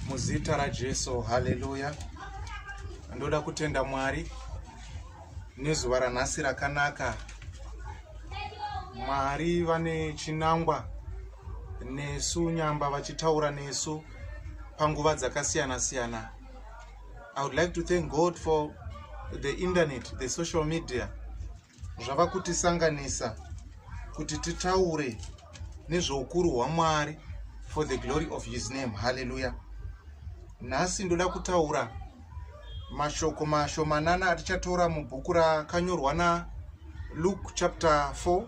muzita rajesu haleluya ndoda kutenda mwari nezuva ranhasi rakanaka mwari vane chinangwa nesu nyamba vachitaura nesu panguva dzakasiyana siyana i would like to thank god for the internet the social media zvava kutisanganisa kuti titaure nezveukuru hwamwari for the glory of his name halleluya nhasi ndoda kutaura mashoko mashomanana atichatora mubhuku rakanyorwa naluke chapter 4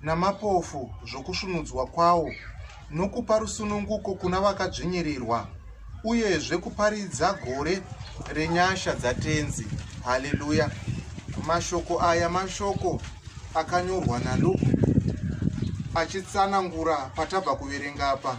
namapofu zvokusvunudzwa kwawo nokupa rusununguko kuna vakadzvinyirirwa uyezve kuparidza gore renyasha dzatenzi haleluya mashoko aya mashoko akanyorwa naluke achitsanangura patabva kuverenga apa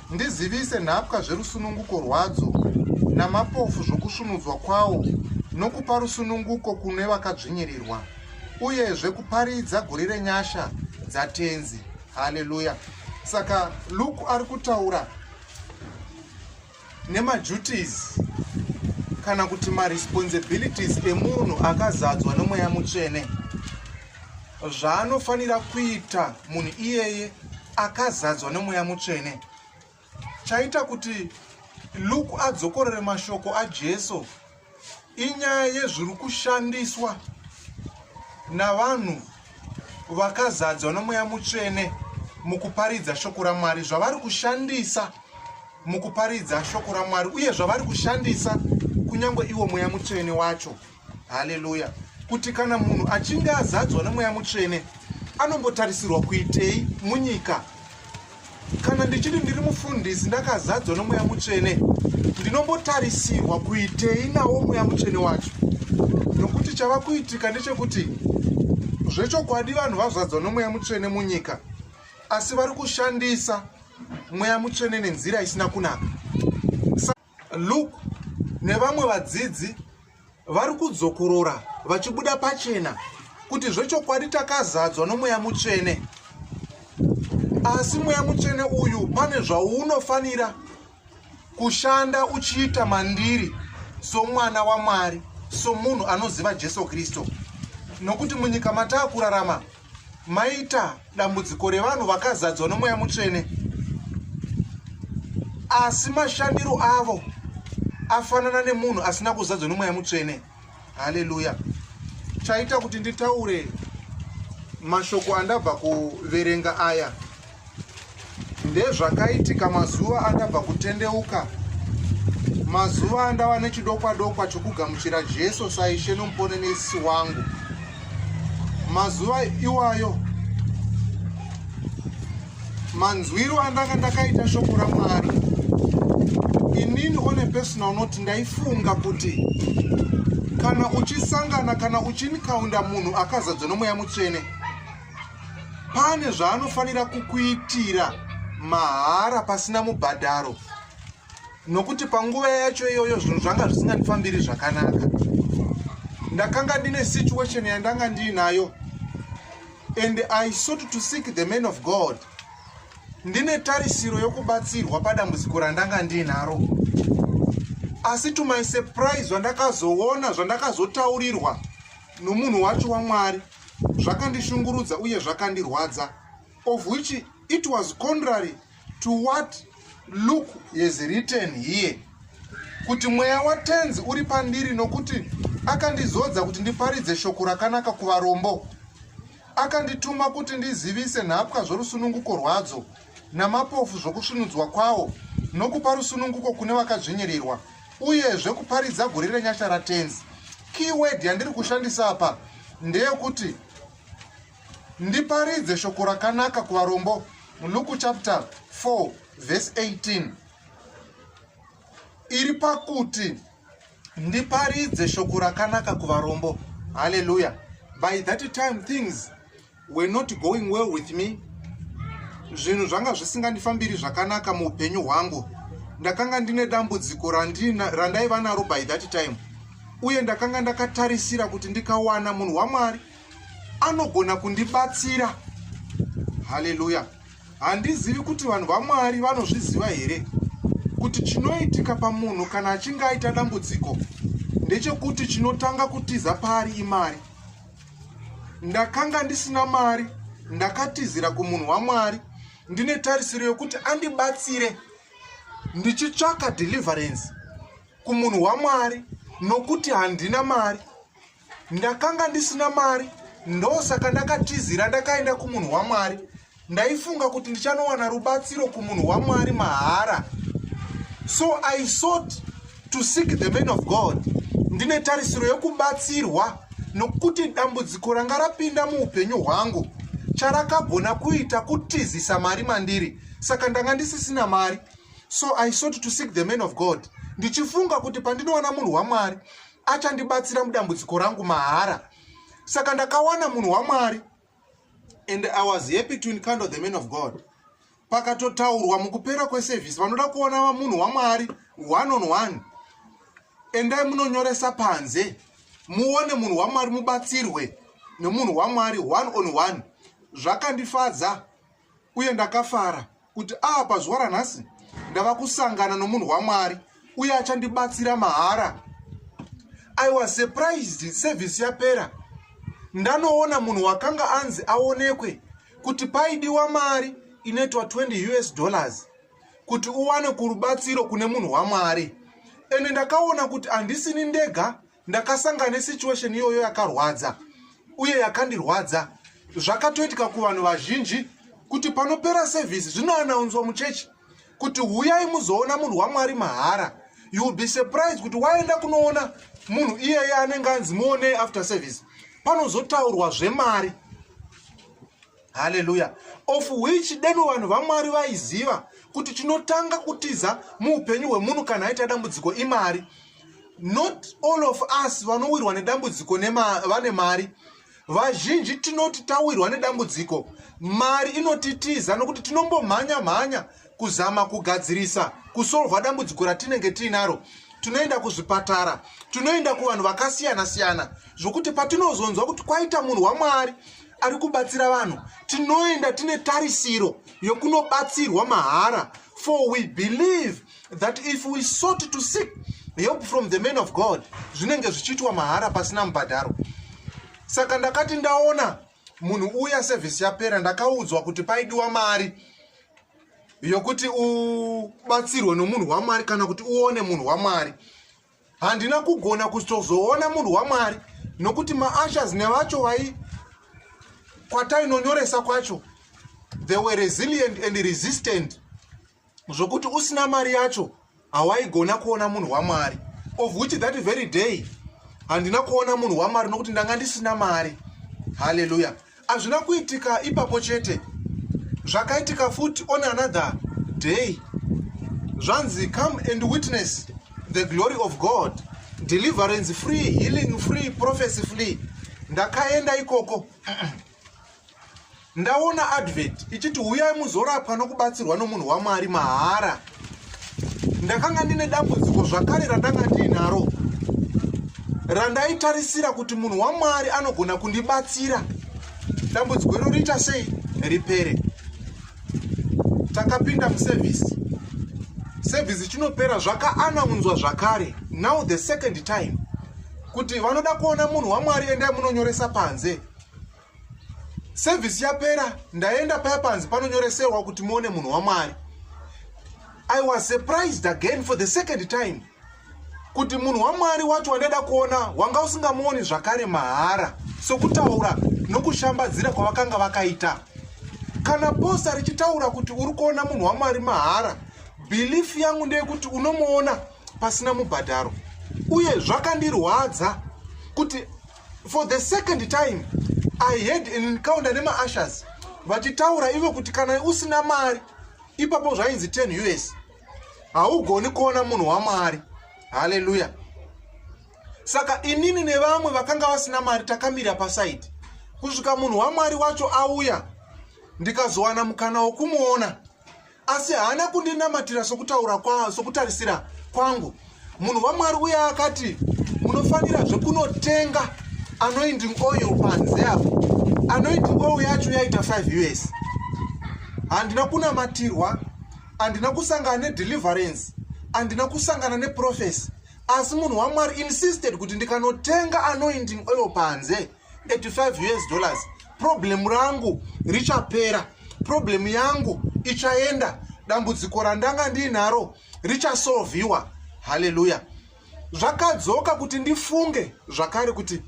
Ndizivise nhapwa zverusununguko rwadzo namapofu zvokusvunudzwa kwawo nokupa rusununguko kune vakadzvinyirirwa uyezve kuparidza guri renyasha dzatenzi haleluya saka luke ari kutaura nemaduties kana kuti maresponsibilities emunhu akazadzwa nemweya mutsvene zvaanofanira kuita munhu iyeye akazadzwa nemweya mutsvene chaita kuti luke adzokorere mashoko ajesu inyaya yezviri kushandiswa navanhu vakazadzwa nomweya mutsvene mukuparidza shoko ramwari zvavari kushandisa mukuparidza shoko ramwari uye zvavari kushandisa kunyange iwo mweya mutsvene wacho haleluya kuti kana munhu achinge azadzwa nemweya mutsvene anombotarisirwa kuitei munyika kana ndichiti ndiri mufundisi ndakazadzwa nemweya mutsvene ndinombotarisirwa kuitei nawo mweya mutsvene wacho nokuti chava kuitika ndechekuti zvechokwadi vanhu vazvadzwa nomweya mutsvene munyika asi vari kushandisa mweya mutsvene nenzira isina kunaka Luke nevamwe vadzidzi vari kudzokorora vachibuda pachena kuti zvechokwadi takazadzwa nomweya mutsvene asi mweya mutsvene uyu pane zvaunofanira kushanda uchiita mandiri somwana wamwari somunhu anoziva jesu kristu nokuti munyika mataa kurarama maita dambudziko revanhu vakazadzwa nomweya mutsvene asi mashandiro avo afanana nemunhu asina kuzadzwa nomweya mutsvene haleluya chaita kuti nditaure mashoko andabva kuverenga aya Ndezvakaitika mazuva andabva kutendeuka, mazuva andava nechidokwadokwa chokugamuchira Jesu saishe nomuponenesi wangu. Mazuva iwayo manzwiro andanga ndakaita shoko ramwari inini one personal not ndaifunga kuti kana uchisangana kana uchinikaunda munhu akazadzwa nomweya mutsvene pane zvaanofanira kukuitira mahara pasina mubhadharo nokuti panguva yacho iyoyo zvinhu zvanga zvisingandifambiri zvakanaka ndakanga ndine situation yandanga ndiinayo and i sought to seek the man of god ndine tarisiro yokubatsirwa padambudziko randanga ndiinaro asi to my surprise zvandakazoona zvandakazotaurirwa nomunhu wacho wamwari wa zvakandishungurudza uye zvakandirwadza of which it was contrary to what luke has written here kuti mweya watenzi uri pandiri nokuti akandizodza kuti ndiparidze shoko rakanaka kuvarombo akandituma kuti ndizivise nhapwa zvorusununguko rwadzo namapofu zvokusvinudzwa kwawo nokupa rusununguko kune vakadzvinyirirwa uyezve kuparidza gore renyasha ratenzi keyword yandiri kushandisa apa ndeyekuti ndiparidze shoko rakanaka kuvarombo luku chapter 4 verse 18 iri pakuti ndiparidze shoko rakanaka kuvarombo haleluya by that time things were not going well with me zvinhu zvanga zvisingandifambiri zvakanaka muupenyu hwangu ndakanga ndine dambudziko randaiva naro by that time uye ndakanga ndakatarisira kuti ndikawana munhu wamwari anogona kundibatsira haleluya handizivi kuti vanhu vamwari vanozviziva here kuti chinoitika pamunhu kana achinge aita dambudziko ndechekuti chinotanga kutiza paari imari ndakanga ndisina mari ndakatizira kumunhu wamwari ndine tarisiro yokuti andibatsire ndichitsvaka deliverance kumunhu wamwari nokuti handina mari ndakanga ndisina mari ndosaka ndakatizira ndakaenda kumunhu wamwari ndaifunga kuti ndichanowana rubatsiro kumunhu wamwari mahara so i sought to seek the man of god ndine tarisiro yokubatsirwa nokuti dambudziko ranga rapinda muupenyu hwangu charakagona kuita kutizisa mari mandiri saka ndanga ndisisina mari so i sought to seek the man of god ndichifunga kuti pandinowana munhu wamwari achandibatsira mudambudziko rangu mahara saka ndakawana munhu wamwari and i was happy to encounter the man of god pakatotaurwa mukupera kweservice vanoda kuona vamunhu wamwari one on one endai munonyoresa panze muone munhu wamwari mubatsirwe nemunhu wamwari one on one zvakandifadza uye ndakafara kuti ava pazuva ranhasi ndava kusangana nomunhu wamwari uye achandibatsira mahara i was surprised sevhisi yapera ndanoona munhu wakanga anzi aonekwe kuti paidiwa mari inoitwa 20 us dollars kuti uwane kurubatsiro kune munhu wamwari ende ndakaona kuti handisini ndega ndakasangana nesituation iyoyo yakarwadza uye yakandirwadza zvakatoitika kuvanhu vazhinji kuti panopera sevhisi zvinoanaunzwa muchechi kuti huyai muzoona munhu wamwari mahara you will be surprised kuti waenda kunoona munhu iyeye anenge anzi muonei after service panozotaurwa zvemari haleluya of which deno vanhu vamwari vaiziva kuti chinotanga kutiza muupenyu hwemunhu kana aita dambudziko imari not all of us vanowirwa nedambudziko vane mari vazhinji tinoti tawirwa nedambudziko mari inotitiza nokuti tinombomhanya mhanya kuzama kugadzirisa kusolva dambudziko ratinenge tiinaro tinoenda kuzvipatara tinoenda kuvanhu vakasiyana siyana zvokuti patinozonzwa kuti kwaita munhu wamwari ari kubatsira vanhu tinoenda tine tarisiro yokunobatsirwa mahara for we believe that if we sought to seek help from the man of god zvinenge zvichiitwa mahara pasina mubhadharo saka ndakati ndaona munhu uya sevhisi yapera ndakaudzwa kuti paidiwa mari yokuti ubatsirwe nomunhu wamwari kana kuti uone munhu wamwari handina kugona kuzoona munhu wamwari nokuti maashers nevacho vai kwatainonyoresa kwacho they were resilient and resistant zvokuti usina mari yacho hawaigona kuona munhu wamwari of which that very day handina kuona munhu wamwari nokuti ndanga ndisina mari halleluya hazvina kuitika ipapo chete zvakaitika futi on another day zvanzi come and witness the glory of god deliverance free healing free prophecy free ndakaenda ikoko ndaona advert ichiti huyai muzorapwa nokubatsirwa nomunhu wamwari mahara ndakanga ndine dambudziko zvakare randanga ndiinaro randaitarisira kuti munhu wamwari anogona kundibatsira dambudziko iro riita sei ripere takapinda muservisi service chinopera zvakaanaunzwa zvakare now the second time kuti vanoda kuona munhu wamwari endai munonyoresa panze service yapera ndaenda paya panzi panonyoreserwa kuti muone munhu wamwari i was surprised again for the second time kuti munhu wamwari wacho wandaida kuona wanga usingamuoni zvakare mahara sokutaura nokushambadzira kwavakanga vakaita kana posa richitaura kuti uri kuona munhu wamwari mahara bhilifu yangu ndeyekuti unomuona pasina mubhadharo uye zvakandirwadza kuti for the second time i had an encounter nemaashers vachitaura ivo kuti kana usina mari ipapo zvainzi 10 us haugoni kuona munhu wamwari haleluya saka inini nevamwe vakanga vasina mari takamira pasaidi kusvika munhu wamwari wacho auya ndikazowana mukana wokumuona asi haana kundinamatira sokutaura kwa sokutarisira kwangu munhu wamwari uye akati munofanira zvekunotenga anoinding oil panze apo anoinding oil yacho yaita 5 years handina kunamatirwa handina kusangana nedeliverance handina kusangana neprofesi asi munhu wamwari insisted kuti ndikanotenga anoinding oil panze 85 us dollars problem rangu richapera problem yangu ichaenda dambudziko randanga ndiinaro richasolviwa haleluya zvakadzoka kuti ndifunge zvakare kuti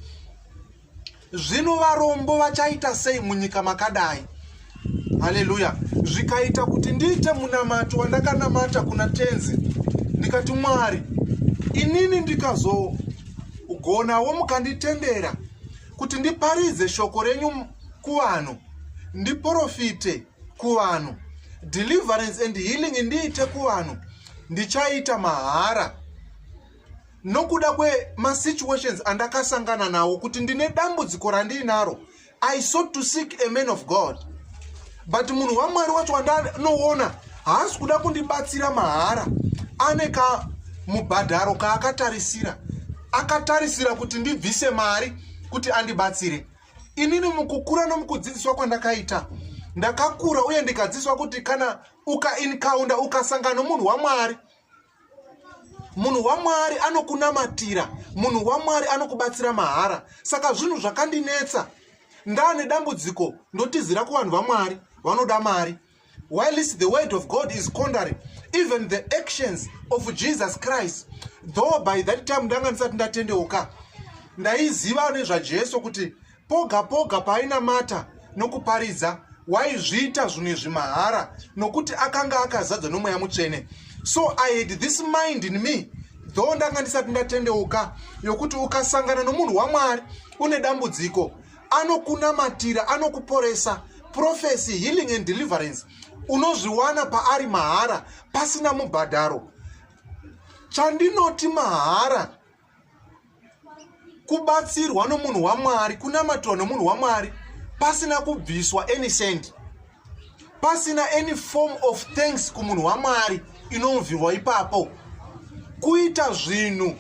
zvino varombo vachaita sei munyika makadai haleluya zvikaita kuti ndiite munamato wandakanamata kuna tenzi ndikati mwari inini ndikazogonawo mukanditendera kuti ndiparidze shoko renyu kuvanhu ndiprofite kuvanhu deliverance and healing ndiite kuvanhu ndichaita mahara nokuda kwemasituations andakasangana nawo kuti ndine dambudziko randiinaro i sought to seek a man of god but munhu wamwari wacho wandanoona haasi kuda kundibatsira mahara ane ka mubhadharo kaakatarisira akatarisira kuti ndibvise mari kuti andibatsire inini mukukura nomukudzidziswa kwandakaita ndakakura uye ndikadzidziswa kuti kana ukainkaunda ukasangana nomunhu wamwari uka munhu wamwari anokunamatira munhu wamwari anokubatsira mahara saka zvinhu zvakandinetsa ndaane dambudziko ndotizira kuvanhu vamwari vanoda mari whilst the word of god is condary even the actions of jesus christ though by that time ndanga ndisati ndatendeuka ndaiziva nezvajesu kuti Poga poga paainamata nokuparidza, waizviita zvimwe zvimahara nokuti akanga akazadzwa nomweya mutsvene. So I had this mind in me though ndanga ndisati ndatendeuka yokuti ukasangana nomunhu wamwari une dambudziko anokunamatira anokuporesa profesy healing and deliverance unozviwana paari mahara pasina mubhadharo chandinoti mahara kubatsirwa nomunhu wamwari kunamatwa nomunhu wamwari pasina kubviswa any send pasina any form of thanks kumunhu wamwari inonvirwa ipapo kuita zvinhu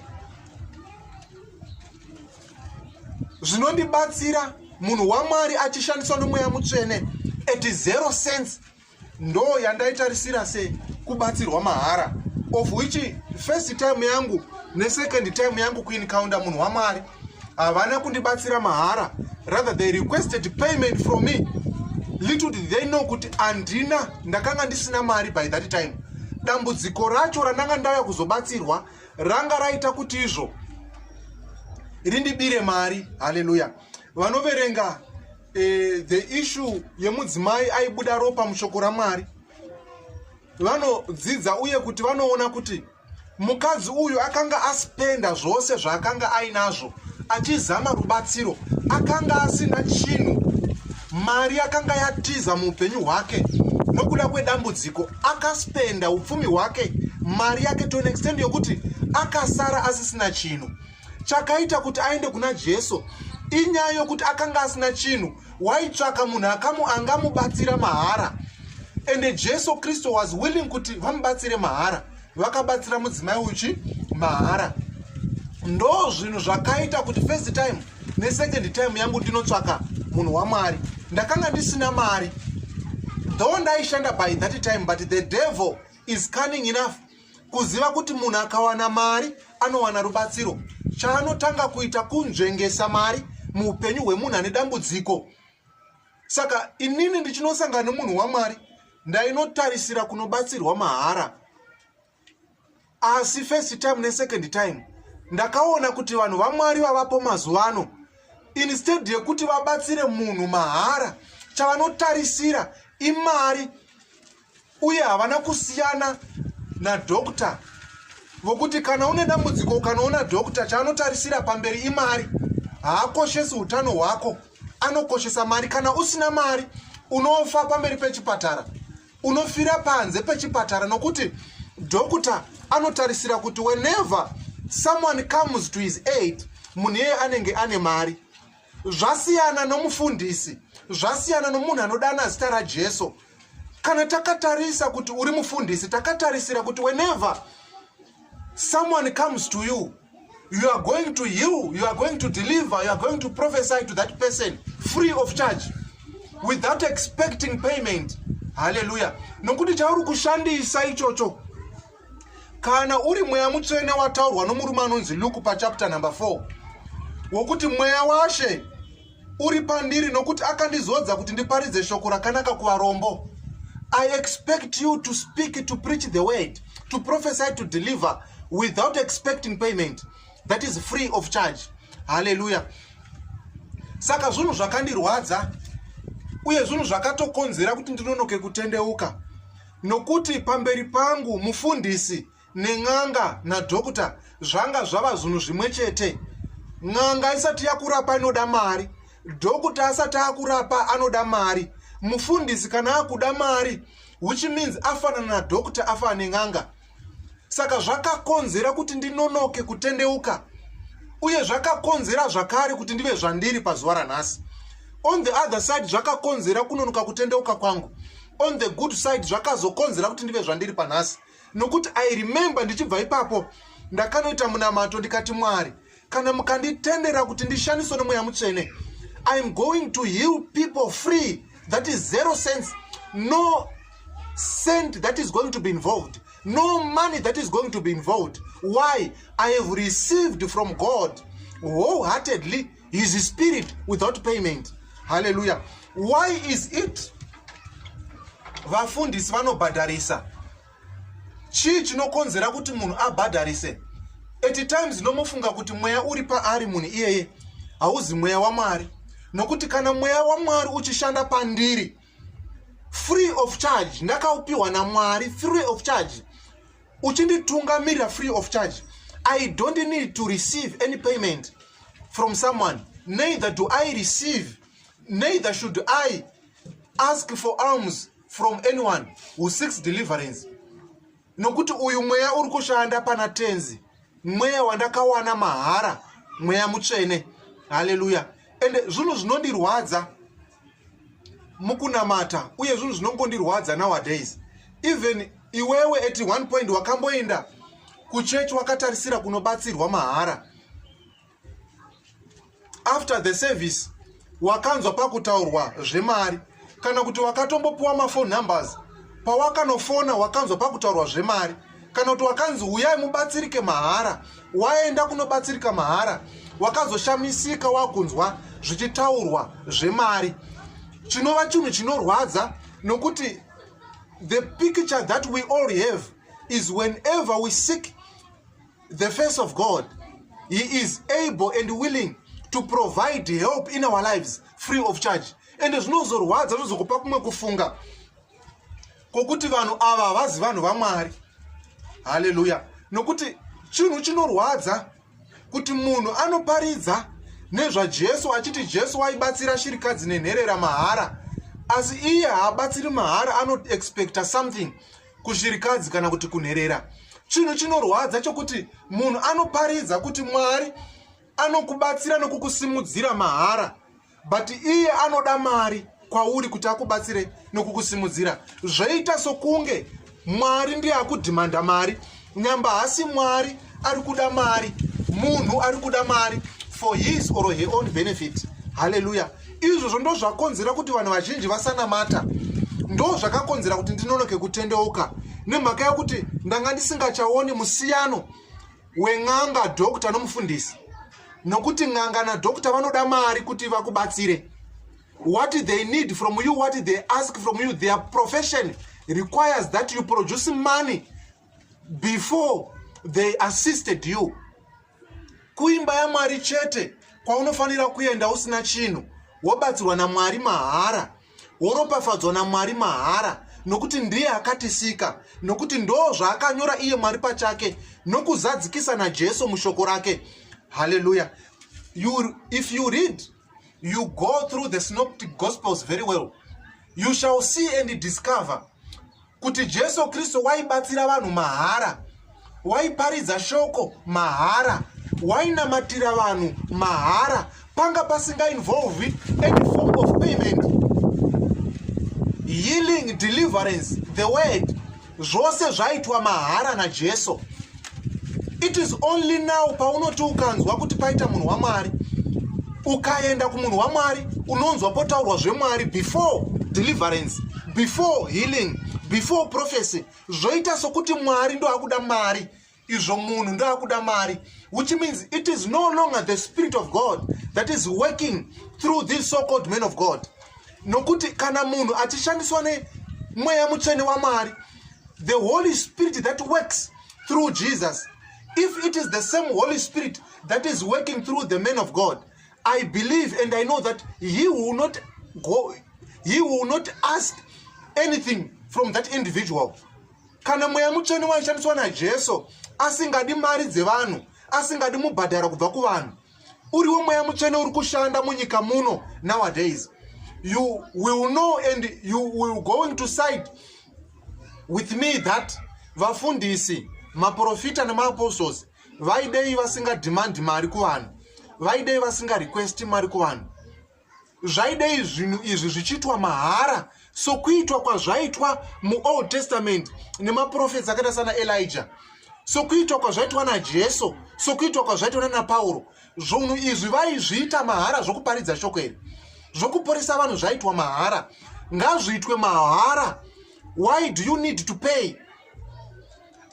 zvinondibatsira munhu wamwari achishandiswa nomweya mutsvene at zero sense ndo yandaitarisira se kubatsirwa mahara of which first time yangu nesecond time yangu kuincounta munhu wamwari havana kundibatsira mahara rather they requested payment from me little did they know kuti andina ndakanga ndisina mari by that time dambudziko racho randanga ndauya kuzobatsirwa ranga raita kuti izvo rindibire mari haleluya vanoverenga e, the issue yemudzimai aibuda ropa mushoko ramwari vanodzidza uye kuti vanoona kuti mukadzi uyu akanga aspenda zvose zvaakanga ainazvo achizama rubatsiro akanga asina chinhu mari yakanga yatiza muupenyu hwake nokuda kwedambudziko akaspenda upfumi hwake mari yake to an extend yokuti akasara asisina chinhu chakaita kuti aende kuna jesu inyaya yokuti akanga asina chinhu waitsvaka munhu akamu angamubatsira mahara ende jesu kristu was willing kuti vamubatsire mahara vakabatsira mudzimai uchi mahara ndo zvinhu zvakaita kuti first time nesecond time yangu ndinotsvaka munhu wamwari ndakanga ndisina mari though ndaishanda by that time but the devil is cunning enough kuziva kuti munhu akawana mari anowana rubatsiro chaanotanga kuita kunzvengesa mari muupenyu hwemunhu ane dambudziko saka inini ndichinosangana nemunhu wamwari ndainotarisira kunobatsirwa mahara asi first time nesecond time ndakaona kuti vanhu vamwari vavapo mazuva ano instead yekuti vabatsire munhu mahara chavanotarisira imari uye havana kusiyana nadokta vokuti kana une dambudziko ukanoona dokta chaanotarisira pamberi imari haakoshesi utano hwako anokoshesa mari kana usina mari unofa pamberi pechipatara unofira panze pechipatara nokuti dokta anotarisira kuti whenever someone comes to his aid munhu iyeye anenge ane mari zvasiyana nomufundisi zvasiyana nomunhu anodana zita rajesu kana takatarisa kuti uri mufundisi takatarisira kuti whenever someone comes to you you are going to heal you are going to deliver you are going to prophesy to that person free of charge without expecting payment haleluya nokuti chauri kushandisa ichocho kana uri mweya mutsvene wataurwa nomurume anonzi luke pachapter number 4 wokuti mweya washe uri pandiri nokuti akandizodza kuti ndiparidze shoko rakanaka kuvarombo i expect you to speak to preach the word to prophesy to deliver without expecting payment that is free of charge haleluya saka zvinhu zvakandirwadza uye zvinhu zvakatokonzera kuti ndinonoke kutendeuka nokuti pamberi pangu mufundisi nen'anga nadhokuta zvanga zvava zvinhu zvimwe chete n'anga isati yakurapa inoda mari dhokuta asati akurapa anoda mari mufundisi kana akuda mari which means afanana nadhokuta afana nen'anga saka zvakakonzera kuti ndinonoke kutendeuka uye zvakakonzera zvakare kuti ndive zvandiri pazuva ranhasi on the other side zvakakonzera kunonoka kutendeuka kwangu on the good side zvakazokonzera kuti ndive zvandiri panhasi nokuti i remember ndichibva ipapo ndakanoita munamato ndikati mwari kana mukanditendera kuti ndishandiswe nemweya mutsvene iam going to heal people free that is zero sense no cent that is going to be involved no money that is going to be involved why i have received from god wholeheartedly his spirit without payment haleluya why is it vafundisi vanobhadharisa chii chinokonzera kuti munhu abhadharise at times nomofunga kuti mweya uri paari munhu iyeye hauzi mweya wamwari nokuti kana mweya wamwari uchishanda pandiri free of charge ndakaupiwa namwari free of charge uchinditungamirira free of charge i don't need to receive any payment from someone neither do i receive neither should i ask for arms from anyone who seeks deliverance nokuti uyu mweya uri kushanda pana tenzi mweya wandakawana mahara mweya mutsvene haleluya ende zvinhu zvinondirwadza mukunamata uye zvinhu zvinongondirwadza nowadays even iwewe at one point wakamboenda kuchechi wakatarisira kunobatsirwa mahara after the service wakanzwa pakutaurwa zvemari kana kuti wakatombopiwa mafone numbers pawakanofona wakanzwa pakutaurwa zvemari kana kuti wakanzi huyai mubatsirike mahara waenda kunobatsirika mahara wakazoshamisika wakunzwa zvichitaurwa zvemari chinova chinhu chinorwadza nokuti the picture that we all have is whenever we seek the face of god he is able and willing to provide help in our lives free of charge ende zvinozorwadza zvozokupa kumwe kufunga kwokuti vanhu ava havazi vanhu vamwari haleluya nokuti chinhu chinorwadza kuti munhu anoparidza nezvajesu achiti jesu waibatsira shirikadzi nenherera mahara asi iye haabatsiri mahara anoexpecta something kushirikadzi kana kuti kunherera chinhu chinorwadza chokuti munhu anoparidza kuti mwari anokubatsira nokukusimudzira mahara but iye anoda mari kwauri kuti akubatsire nokukusimudzira zvoita sokunge mwari ndiye akudhimanda mari nyamba hasi mwari ari kuda mari munhu ari kuda mari for his or her own benefit haleluya izvozvo ndo zvakonzera kuti vanhu vazhinji vasanamata ndo zvakakonzera kuti ndinonoke kutendeuka nemhaka yekuti ndanga ndisingachaoni musiyano wen'anga doctor nomufundisi nokuti n'anga nadoctor vanoda mari kuti vakubatsire what they need from you what they ask from you their profession requires that you produce money before they assisted you kuimba yamwari chete kwaunofanira kuenda usina chinhu wobatsirwa namwari mahara woropafadzwa namwari mahara nokuti ndiye akatisika nokuti ndoo zvaakanyora iye mwari pachake nokuzadzikisa najesu mushoko rake haleluya you, if you read you go through the synoptic gospels very well you shall see and discover kuti jesu kristu waibatsira vanhu mahara waiparidza shoko mahara wainamatira vanhu mahara panga pasingainvolvi any form of payment healing deliverance the word zvose zvaitwa mahara najesu it is only now paunoti ukanzwa kuti paita munhu wamwari ukaenda kumunhu wamwari unonzwa potaurwa zvemwari before deliverance before healing before prophecy zvoita sokuti mwari ndoakuda mari izvo munhu ndoakuda mari which means it is no longer the spirit of god that is working through these so called men of god nokuti kana munhu achishandiswa nemweya mutsvene wamwari the holy spirit that works through jesus if it is the same holy spirit that is working through the man of god i believe and i know that he will not go he will not ask anything from that individual kana mweya mutsvene waishandiswa najesu asingadi mari dzevanhu asingadi mubhadhara kubva kuvanhu uriwo mweya mutsvene uri kushanda munyika muno nowadays you will know and you will going to side with me that vafundisi maprofita nemaapostles vaidei vasingadhimandi mari kuvanhu vaidei vasingarequesti mari kuvanhu zvaidei zvinhu izvi zvichiitwa mahara sokuitwa kwazvaitwa muold testament nemaprofets akaita sana elija sokuitwa kwazvaitwa najesu sokuitwa kwazvaitwa nanapauro zvunhu izvi vaizviita mahara zvokuparidza shoko iri zvokuporesa vanhu zvaitwa mahara ngazviitwe mahara why do you need to pay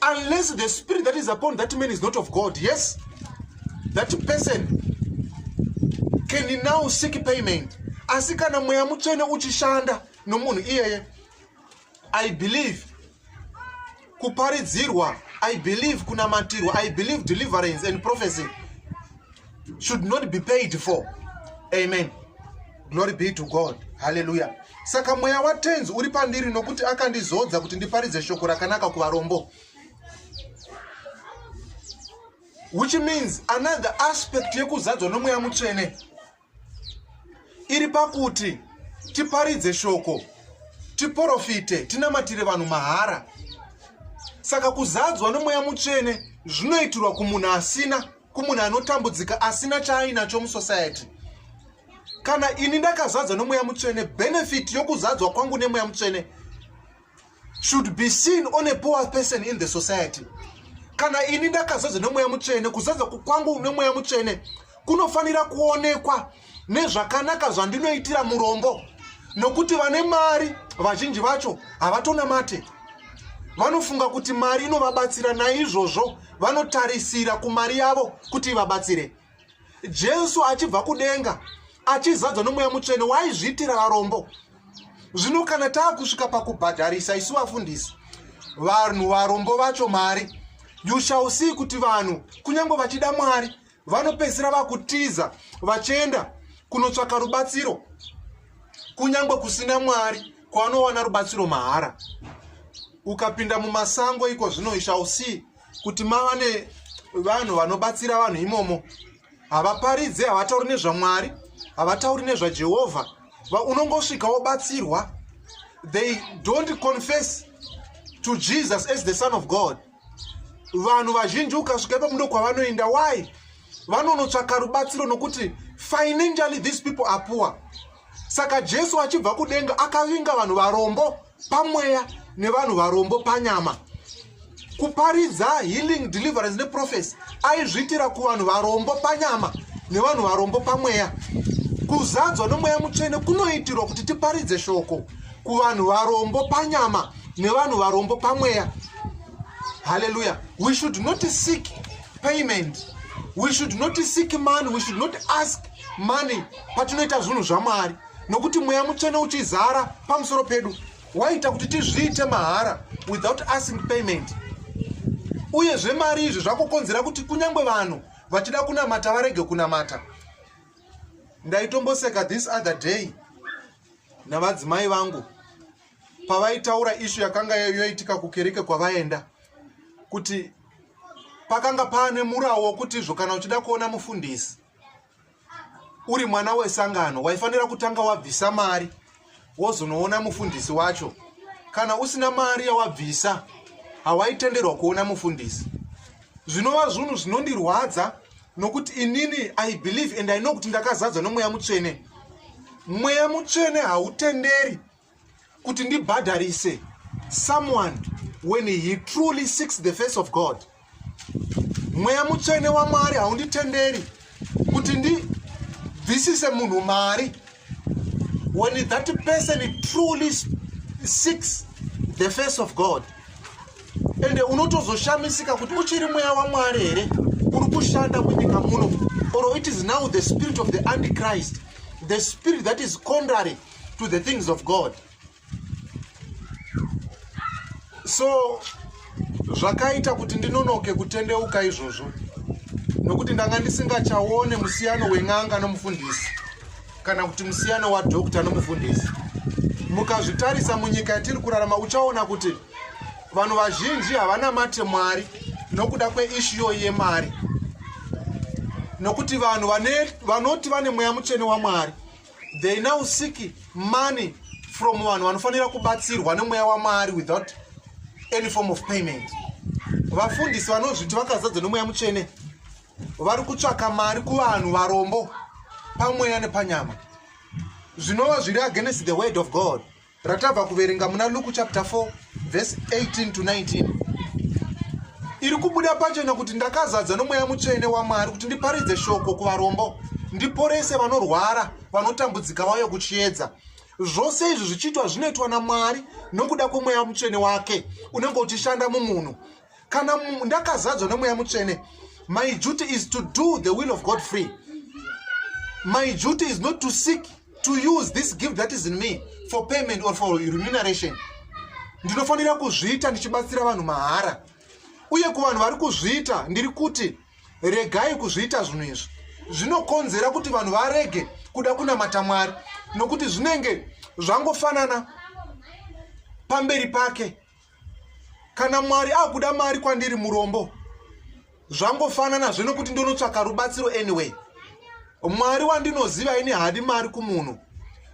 unless the spirit that is upon that man is not of god yes that person can now seek payment asi kana mweya mutsvene uchishanda nomunhu iyeye i believe kuparidzirwa i believe kunamatirwa i believe deliverance and prophecy should not be paid for amen glory be to god haleluya saka mweya watenzi uri pandiri nokuti akandizodza kuti ndiparidze shoko rakanaka kuvarombo which means another aspect yekuzadzwa nomweya mutsvene iri pakuti tiparidze shoko tiprofite tinamatire vanhu mahara saka kuzadzwa nomweya mutsvene zvinoitirwa kumunhu asina kumunhu anotambudzika asina chaainacho musociety kana ini ndakazadzwa nemweya mutsvene benefit yokuzadzwa kwangu nemweya mutsvene should be seen on a poor person in the society kana ini ndakazadzwa nemweya mutsvene kuzadzwa kwangu nemweya mutsvene kunofanira kuonekwa nezvakanaka zvandinoitira murombo nokuti vane mari vazhinji vacho havatonamate vanofunga kuti mari inovabatsira naizvozvo vanotarisira kumari yavo kuti ivabatsire jesu achibva kudenga achizadzwa nomweya mutsvene waizviitira varombo zvino kana taa kusvika pakubhadharisa isu vafundisi vanhu varombo vacho mari you shall see kuti vanhu kunyange vachida mwari vanopedzisira vakutiza vachienda kunotsvaka rubatsiro kunyange kusina mwari kwavanowana rubatsiro mahara ukapinda mumasango iko zvino ishausi kuti mava ne vanhu vanobatsira vanhu imomo havaparidze havatauri nezvamwari havatauri nezvajehovha unongosvika wobatsirwa they don't confess to jesus as the son of god vanhu vazhinji ukasvika ipapo ndokwavanoenda why vanonotsvaka rubatsiro nokuti financially these people are poor saka jesu achibva kudenga akavinga vanhu varombo pamweya nevanhu varombo panyama kuparidza healing deliverance neprofesi aizviitira kuvanhu varombo panyama nevanhu varombo pamweya kuzadzwa nomweya mutsvene kunoitirwa kuti tiparidze shoko kuvanhu varombo panyama nevanhu varombo pamweya haleluya we should not seek payment we should not seek money we should not ask money patinoita zvinhu zvamwari nokuti mweya mutsvene uchizara pamusoro pedu waita kuti tizviite mahara without asking payment uye zvemari izvi zvakukonzera kuti kunyange vanhu vachida kunamata varege kunamata ndaitomboseka this other day navadzimai vangu pavaitaura ishu yakanga yoitika kukereke kwavaenda kuti pakanga paane murawo wokuti izvo kana uchida kuona mufundisi uri mwana wesangano waifanira kutanga wabvisa mari wozonoona mufundisi wacho kana usina mari yawabvisa hawaitenderwa kuona mufundisi zvinova zvunhu zvinondirwadza nokuti inini i believe and i know kuti ndakazadzwa nomweya mutsvene mweya mutsvene hautenderi kuti ndibhadharise someone when he truly seeks the face of god mweya mutsvene wamwari haunditenderi kuti ndibvisise munhu mari when that person truly seeks the face of god ende unotozoshamisika kuti uchiri mweya wamwari here uri kushanda munyika muno or it is now the spirit of the antichrist the spirit that is contrary to the things of god so zvakaita kuti ndinonoke kutendeuka izvozvo nokuti ndanga ndisingachaone musiyano wen'anga nomufundisi kana kuti musiyano wadokta nomufundisi mukazvitarisa munyika yatiri kurarama uchaona kuti vanhu vazhinji havana mate mwari nokuda kweishiyo yemari nokuti vanhu vanoti vane mweya mutsvene wamwari they now seek money from vanhu vanofanira kubatsirwa nemweya wamwari without any form of payment vafundisi vanozviti vakazadzwa nemweya mutsvene vari kutsvaka mari kuvanhu varombo pamweya nepanyama zvinova zviri against the word of god ratabva kuverenga muna luku chapter 4 vhesi 18 to 19 iri kubuda pachena kuti ndakazadza nomweya mutsvene wamwari kuti ndiparidze shoko kuvarombo ndiporese vanorwara vanotambudzika vauye kuchiedza zvose izvi zvichiitwa zvinoitwa namwari nokuda kwemweya mutsvene wake unenge uchishanda mumunhu kana ndakazadzwa nemweya mutsvene my duty is to do the will of god free my duty is not to seek to use this gift that is in me for payment or for remuneration ndinofanira kuzviita ndichibatsira vanhu mahara uye kuvanhu vari kuzviita ndiri kuti regai kuzviita zvinhu izvi zvinokonzera kuti vanhu varege kuda kunamata mwari nokuti zvinenge zvangofanana pamberi pake kana mwari akuda mari kwandiri murombo zvangofanana zve nokuti ndonotsvaka rubatsiro anyway mwari wandinoziva ini hadi mari kumunhu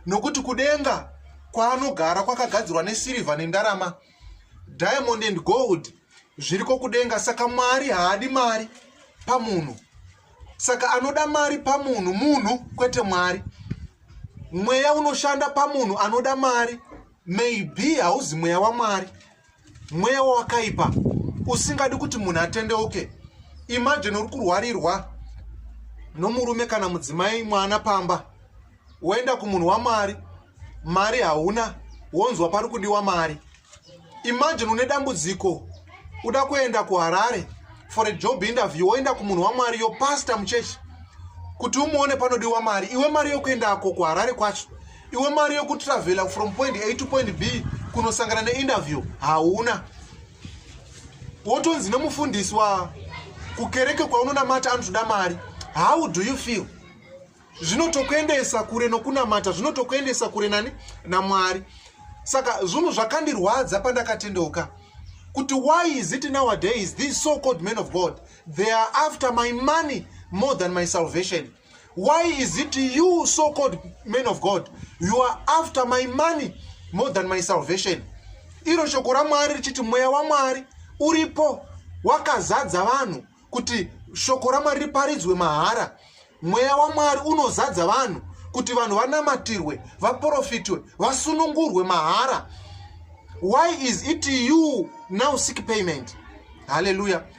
nokuti kudenga kwaanogara kwakagadzirwa nesirivha nendarama diamond and gold zviriko kudenga saka mwari haadi mari pamunhu saka anoda mari pamunhu munhu kwete mwari mweya unoshanda pamunhu anoda mari maybe hauzi mweya wamwari mweya wawakaipa usingadi kuti munhu atendeuke imagine uri kurwarirwa nomurume kana mudzimai mwana pamba woenda kumunhu wamari mari hauna wonzwa pari kudiwa mari imagine une dambudziko uda kuenda kuharare for a job interview woenda kumunhu wamwari yo pasta muchechi kuti umuone panodiwa mari iwe mari yokuendako kuharare kwacho iwe mari yekutravela from point a to point b kunosangana neinterview hauna wotonzi nemufundisi wa kukereke kwaunonamata anotoda mari how do you feel zvinotokuendesa kure nokunamata zvinotokuendesa kure nani namwari saka zvunhu zvakandirwadza pandakatendeuka kuti why is it nowadays these so called men of god they are after my money more than my salvation why is it you so called man of god you are after my money more than my salvation iro shoko ramwari richiti mweya wamwari uripo wakazadza vanhu kuti shoko ramwari riparidzwe mahara mweya wamwari unozadza vanhu kuti vanhu vanamatirwe vaprofitwe vasunungurwe mahara why is it you now sick payment haleluya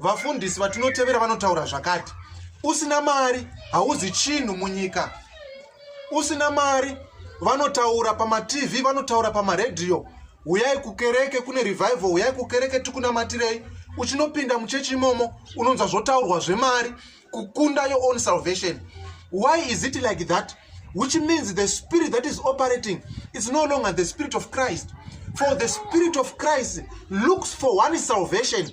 vafundisi vatinotevera vanotaura zvakati usina mari hauzi chinhu munyika usina mari vanotaura pamatv vanotaura pamaredhiyo huyai kukereke kune revival huyai kukereke tikunamatirei uchinopinda muchechi imomo unonzwa zvotaurwa zvemari kukunda your own salvation why is it like that which means the spirit that is operating is no longer the spirit of christ for the spirit of christ looks for one salvation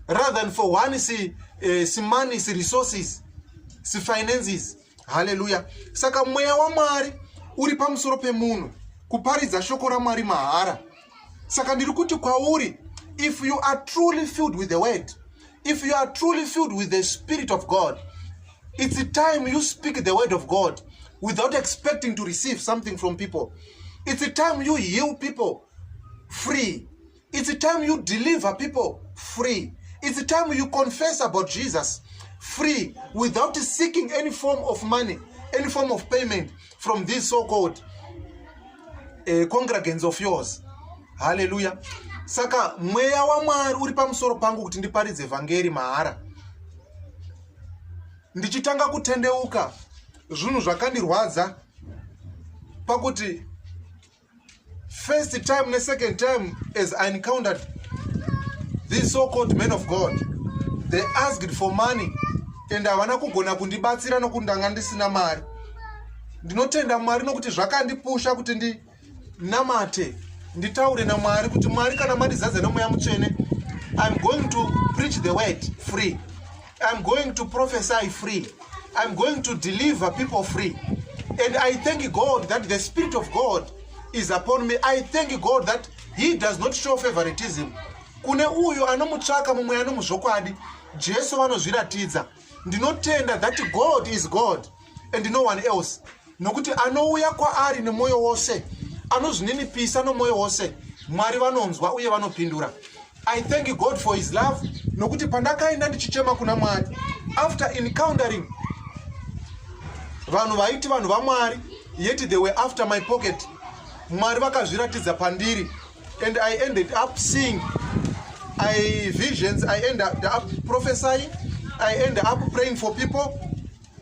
rather than for one si, eh, simani si resources si finances haleluya saka mweya wamwari uri pamusoro pemunhu kuparidza shoko ramwari mahara saka ndiri kuti kwauri if you are truly filled with the word if you are truly filled with the spirit of god it's a time you speak the word of god without expecting to receive something from people it's a time you heal people free It's time you deliver people free. It's time you confess about Jesus free without seeking any form of money, any form of payment from these so-called uh, congregants of yours. Hallelujah. Saka mweya waMwari uri pamusoro pangu kuti ndiparidze vhangeri mahara. Ndichitanga kutendeuka zvinhu zvakandirwadza pakuti first time ne second time as i encountered these so called men of god they asked for money and havana kugona kundibatsira nokuti ndanga ndisina mari ndinotenda mwari nokuti zvakandipusha kuti ndinamate nditaure namwari kuti mwari kana mandizadza nemweya mutsvene iam going to preach the word free I'm going to prophesy free. I'm going to deliver people free. And I thank God that the Spirit of God is upon me. I thank God that He does not show favoritism. Kune uyo anomutsvaka mumwe anomuzvokwadi Jesu vanozviratidza. Ndinotenda that God is God and no one else. nokuti anouya kwaari nemwoyo wose anozvininipisa nomwoyo wose mwari vanonzwa uye vanopindura i thank god for his love nokuti pandakaenda ndichichema kuna mwari after encountering vanhu vaiti vanhu vamwari yet they were after my pocket mwari vakazviratidza pandiri and i ended up seeing i visions i ended up prophesying i ended up praying for people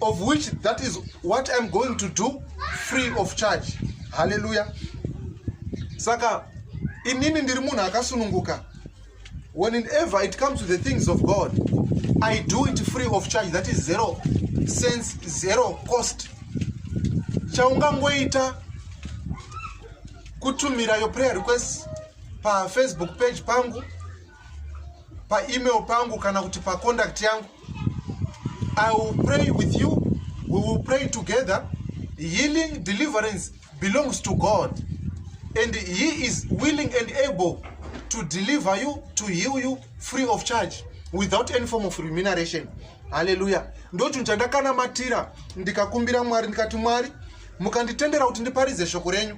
of which that is what iam going to do free of charge haleluya saka inini ndiri munhu akasununguka when in ever it comes to the things of god i do it free of charge that is zero sense zero cost chaungangoita kutumira your prayer request pafacebook page pangu paemail pangu kana kuti paconduct yangu i will pray with you we will pray together healing deliverance belongs to god and he is willing and able to deliver you to heal you free of charge without any form of remuneration haleluya ndochinhu chandakanamatira ndikakumbira mwari ndikati mwari mukanditendera kuti ndiparidze shoko renyu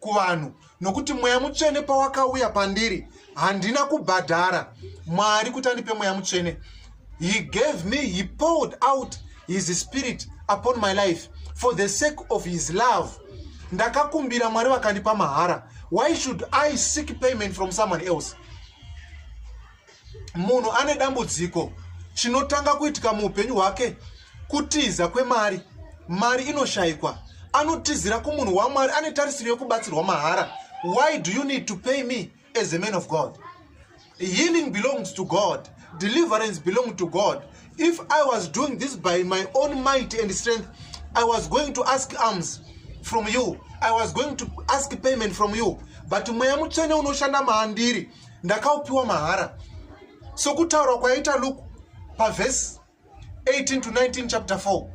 kuvanhu nokuti mweya mutsvene pawakauya pandiri handina kubhadhara mwari kuti andipe mweya mutsvene he gave me he poured out his spirit upon my life for the sake of his love ndakakumbira mwari vakandipa mahara why should i seek payment from someone else munhu ane dambudziko chinotanga kuitika muupenyu hwake kutiza kwemari mari inoshayikwa anotizira kumunhu wamwari ane tarisiro yekubatsirwa mahara why do you need to pay me as a man of god healing belongs to god deliverance belong to god if i was doing this by my own might and strength i was going to ask arms from you i was going to ask payment from you but mweya mutsvene unoshanda maandiri ndakaupiwa mahara sokutaurwa kwaita luke pavhesi 18 to 19 chapter 4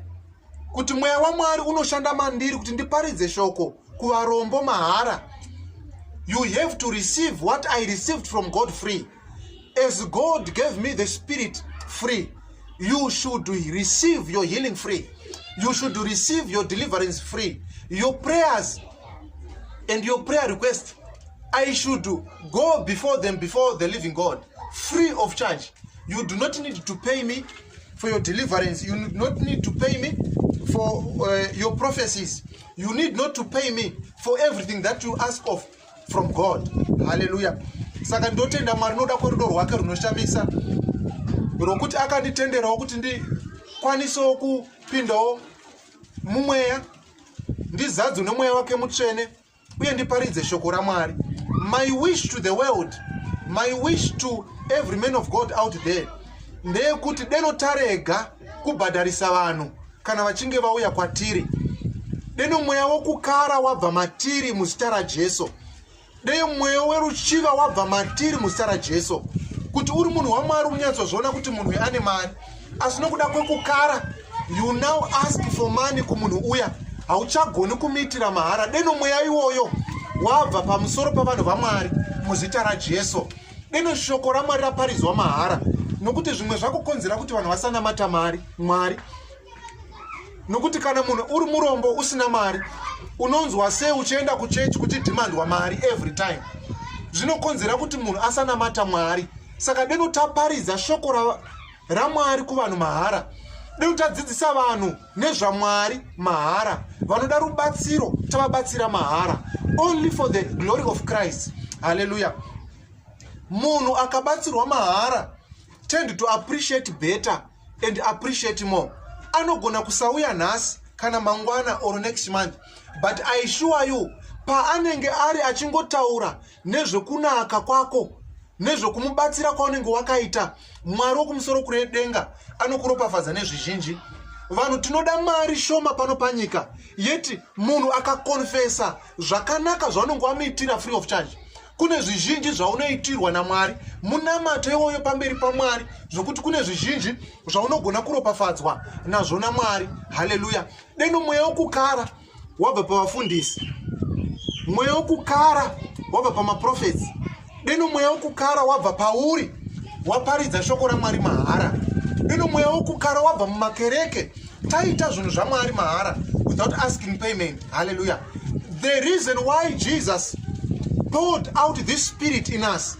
kuti mweya wamwari unoshanda mandiri kuti ndiparidze shoko kuvarombo mahara you have to receive what i received from god free as god gave me the spirit free you should receive your healing free you should receive your deliverance free your prayers and your prayer request i should go before them before the living god free of charge you do not need to pay me for your deliverance you do not need to pay me for uh, your prophecies you need not to pay me for everything that you ask of from god hallelujah saka ndotenda mwari noda kwerudo rwake runoshamisa rwokuti akanditenderawo kuti ndikwanisewo kupindawo mumweya ndizadzwe nomweya wake mutsvene uye ndiparidze shoko ramwari my wish to the world my wish to every man of god out there ndeyekuti deno tarega kubhadharisa vanhu kana vachinge vauya kwatiri deno mweya wokukara wabva matiri muzita rajesu dei mweyo weruchiva wabva matiri muzita rajesu kuti uri munhu wamwari unyatsozviona kuti munhu uyu ane mari asi nokuda kwekukara you now ask for money kumunhu uya hauchagoni kumiitira mahara deno mweya iwoyo wabva pamusoro pavanhu vamwari muzita rajesu deno shoko ramwari raparidzwa mahara nokuti zvimwe zvakukonzera kuti vanhu vasanamata mari mwari nokuti kana munhu uri murombo usina mari unonzwa sei uchienda kuchechi kuchidhimandwa mari every time zvinokonzera kuti munhu asanamata mwari saka deno taparidza shoko ramwari kuvanhu mahara deno tadzidzisa vanhu nezvamwari mahara vanoda rubatsiro tavabatsira mahara only for the glory of christ halleluya munhu akabatsirwa mahara tend to appreciate better and appreciate more anogona kusauya nhasi kana mangwana or next month but i sure you paanenge ari achingotaura nezvekunaka kwako nezvekumubatsira kwaunenge wakaita mwari wokumusoro kure denga anokuropafadza nezvizhinji vanhu tinoda mari shoma pano panyika yeti munhu akakonfesa zvakanaka zvaunenge wamuitira free of charge kune zvizhinji zvaunoitirwa namwari munamato iwoyo pamberi pamwari zvokuti kune zvizhinji zvaunogona kuropafadzwa nazvo namwari haleluya deno mweya wokukara wabva pavafundisi mweya wokukara wabva pamaprofetsi Deno mweya wokukara wabva pauri waparidza shoko ramwari mahara deno mweya wokukara wabva mumakereke taita zvinhu zvamwari mahara without asking payment halleluya the reason why jesus poured out this spirit in us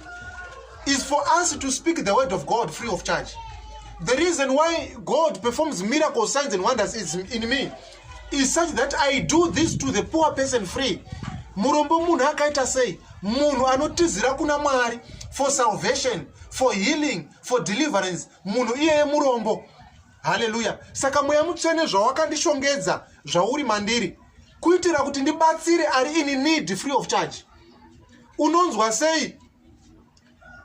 is for us to speak the word of god free of charge the reason why god performs miracles signs and wonders is in me is such that i do this to the poor person free murombo munhu akaita sei munhu anotizira kuna mwari for salvation for healing for deliverance munhu iyeye murombo haleluya saka mweya mutsvene zvawakandishongedza zvauri mandiri kuitira kuti ndibatsire ari ini need free of charge unonzwa sei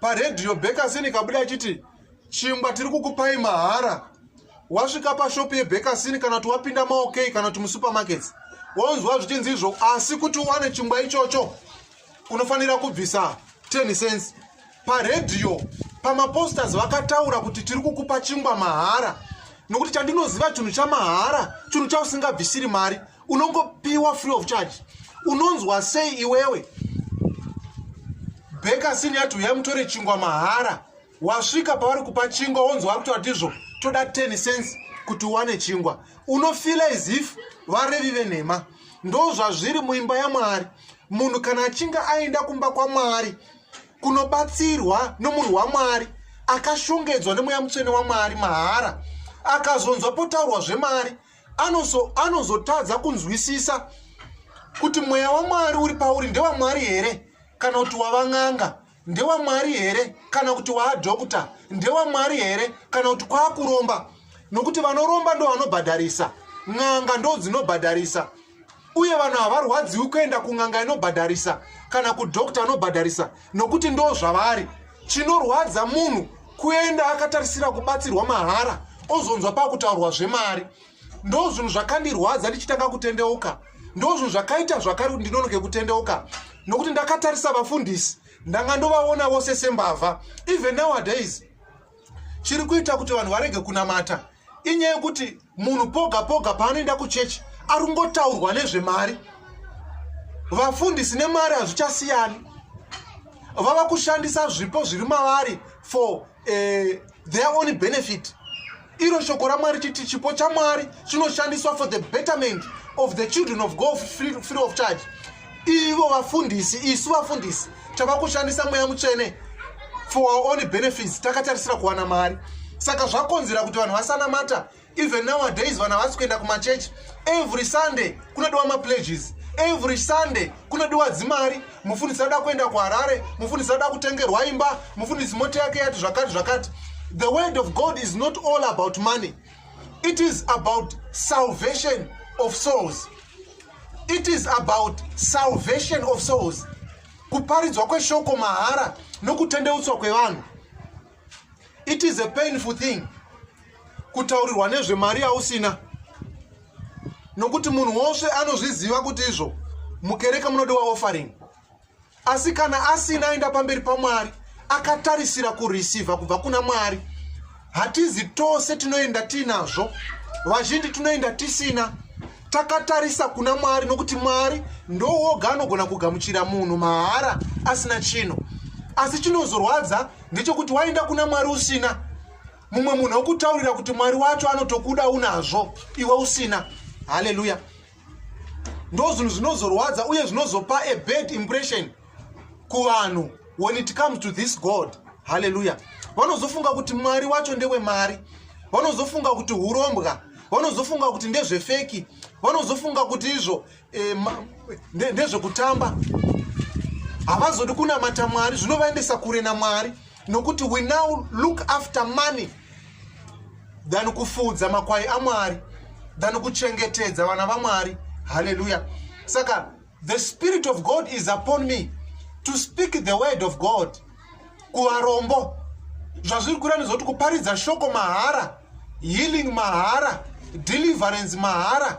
paredhiyo bekasin ikabuda ichiti chingwa tiri kukupai mahara wasvika pashopu yebekasin kana kuti wapinda maokei kana kuti musupermarkets wonzwa zvichinzi izvo asi kuti uwane chingwa ichocho unofanira kubvisa 10 cents paredhiyo pamaposters vakataura kuti tiri kukupa chingwa mahara nokuti chandinoziva chinhu chamahara chinhu chausingabvisiri mari unongopiwa free of charge unonzwa sei iwewe bekasin yati uyai mutore chingwa mahara wasvika pavari kupa chingwa wonzwa vari kutoa tizvo toda 10 cents kuti uwane chingwa unofila as if varevi venhema ndo zvazviri muimba yamwari munhu kana achinge aenda kumba kwamwari kunobatsirwa nomunhu wamwari akashongedzwa nemweya mutsvene wamwari mahara akazonzwa potaurwa zvemari anozotadza ano kunzwisisa kuti mweya wamwari uri pauri ndewamwari here kana kuti wavan'anga ndewamwari here kana kuti waadhokta ndewamwari here kana kuti kwaakuromba nokuti vanoromba ndo vanobhadharisa n'anga ndo dzinobhadharisa uye vanhu havarwadziwi kuenda kun'anga inobhadharisa kana kudokta anobhadharisa nokuti ndo zvavari chinorwadza munhu kuenda akatarisira kubatsirwa mahara ozonzwa pakutaurwa zvemari ndo zvinhu zvakandirwadza ndichitanga kutendeuka ndo zvinhu zvakaita zvakari kuti ndinonoke kutendeuka nokuti ndakatarisa vafundisi ndanga ndovaona vose sembavha even nowadays chiri kuita kuti vanhu varege kunamata inyaya yekuti munhu poga poga paanoenda kuchechi ari kungotaurwa nezvemari vafundisi nemari hazvichasiyani vava kushandisa zvipo zviri mavari for uh, their own benefit iro shoko ramwari chiti chipo chamwari chinoshandiswa for the betterment of the children of god free, free of charge ivo vafundisi isu vafundisi tava kushandisa mweya mutsvene for our own benefits takatarisira kuwana mari saka zvakonzera kuti vanhu vasanamata even nowadays vanhu havasi kuenda kumachechi every sunday kunodiwa mapledges every sunday kunodiwa dzimari mufundisi ada kuenda kuharare mufundisi ada kutengerwa imba mufundisi mota yake yati zvakati zvakati the word of god is not all about money it is about salvation of souls it is about salvation of souls kuparidzwa kweshoko mahara nokutendeutswa kwevanhu it is a painful thing kutaurirwa nezvemari yausina nokuti munhu wose anozviziva kuti izvo mukereke munodiwa offering asi kana asina aenda pamberi pamwari akatarisira kurisivha kubva kuna mwari hatizi tose tinoenda tiinazvo vazhinji tinoenda tisina takatarisa kuna mwari nokuti mwari ndowoga anogona kugamuchira munhu mahara asina chino asi chinozorwadza ndechokuti waenda kuna mwari usina mumwe munhu okutaurira kuti mwari wacho anotokuda unazvo iwe usina haleluya ndo zvinhu zvinozorwadza uye zvinozopa a bad impression kuvanhu when it comes to this god haleluya vanozofunga kuti mwari wacho ndewemari vanozofunga kuti urombwa vanozofunga kuti ndezvefeki vanozofunga kuti izvo eh, ndezvekutamba havazodi kunamata mwari zvinovaendesa kure namwari e, nokuti we now look after money than kufuudza makwai amwari than kuchengetedza vana vamwari halleluya saka the spirit of god is upon me to speak the word of god kuvarombo zvazviri kurani zvokuti kuparidza shoko mahara healing mahara deliverance mahara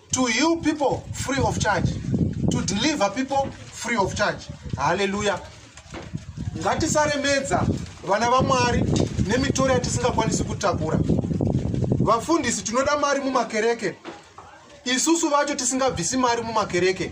to heal people free of charge to deliver people free of charge haleluya ngatisaremedza vana vamwari nemitoro yatisingakwanisi kutakura vafundisi tinoda mari mumakereke isusu vacho tisingabvisi mari mumakereke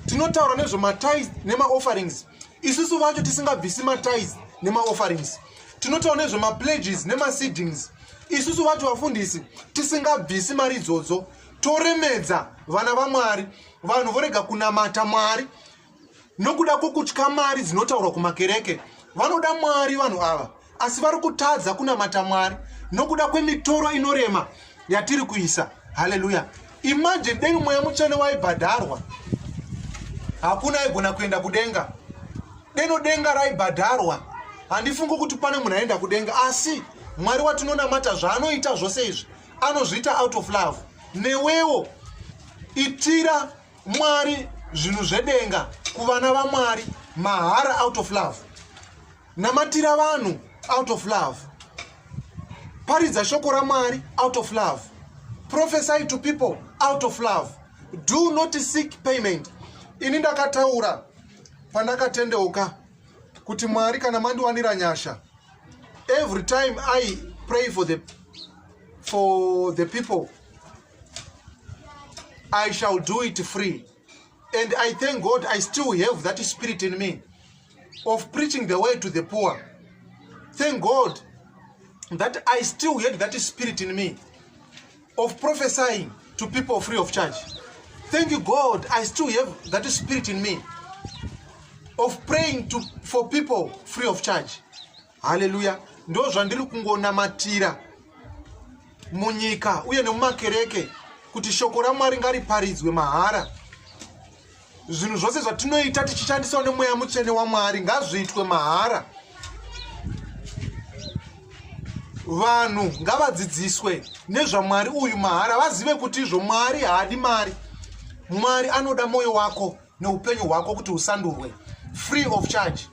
tinotaura nezvematis nemaofferings isusu vacho tisingabvisi matis nemaofferings tinotaura nezvemapledges nemaseedings isusu vacho vafundisi tisingabvisi mari idzodzo toremedza vana vamwari vanhu vorega kunamata mwari nokuda kwokutya mari dzinotaurwa kumakereke vanoda mwari vanhu ava asi vari kutadza kunamata mwari nokuda kwemitoro inorema yatiri kuisa haleluya imanje dei mweya mutsvene waibhadharwa hakuna aigona kuenda kudenga deno denga raibhadharwa handifungi kuti pane munhu aenda kudenga asi mwari watinonamata zvaanoita zvose izvi anozviita out of love newewo itira mwari zvinhu zvedenga kuvana vamwari mahara out of love namatira vanhu out of love paridza shoko ramwari out of love prophesy to people out of love do not seek payment ini ndakataura pandakatendeuka kuti mwari kana mandiwanira nyasha every time i pray for the, for the people i shall do it free and i thank god i still have that spirit in me of preaching the way to the poor thank god that i still had that spirit in me of prophesying to people free of charge thank you god i still have that spirit in me of praying to, for people free of charge haleluya ndo zvandiri kungonamatira munyika uye nemumakereke kuti shoko ramwari ngariparidzwe mahara zvinhu zvose zvatinoita tichishandisawo nemweya mutsvene wamwari ngazviitwe mahara vanhu ngavadzidziswe nezvamwari uyu mahara vazive kuti izvo mwari haadi mari mwari anoda mwoyo wako neupenyu hwako kuti usandurwe free of charge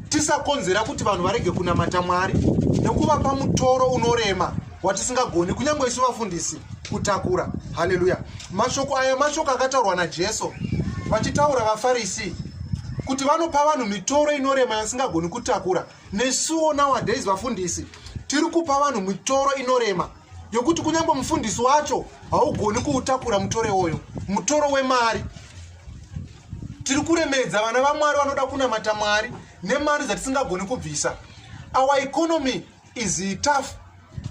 tisakonzera kuti vanhu varege kunamata mwari nekuvapa mutoro unorema watisingagoni kunyange isu vafundisi kutakura haleluya mashoko aya mashoko akataurwa najesu vachitaura vafarisi kuti vanopa vanhu mitoro inorema yasingagoni kutakura nesuwo nowadays vafundisi tiri kupa vanhu mitoro inorema yokuti kunyange mufundisi wacho haugoni kuutakura mutore woyo mutoro wemari tiri kuremedza vana vamwari vanoda kunamata mwari nemari dzatisingagoni kubvisa our economy is tough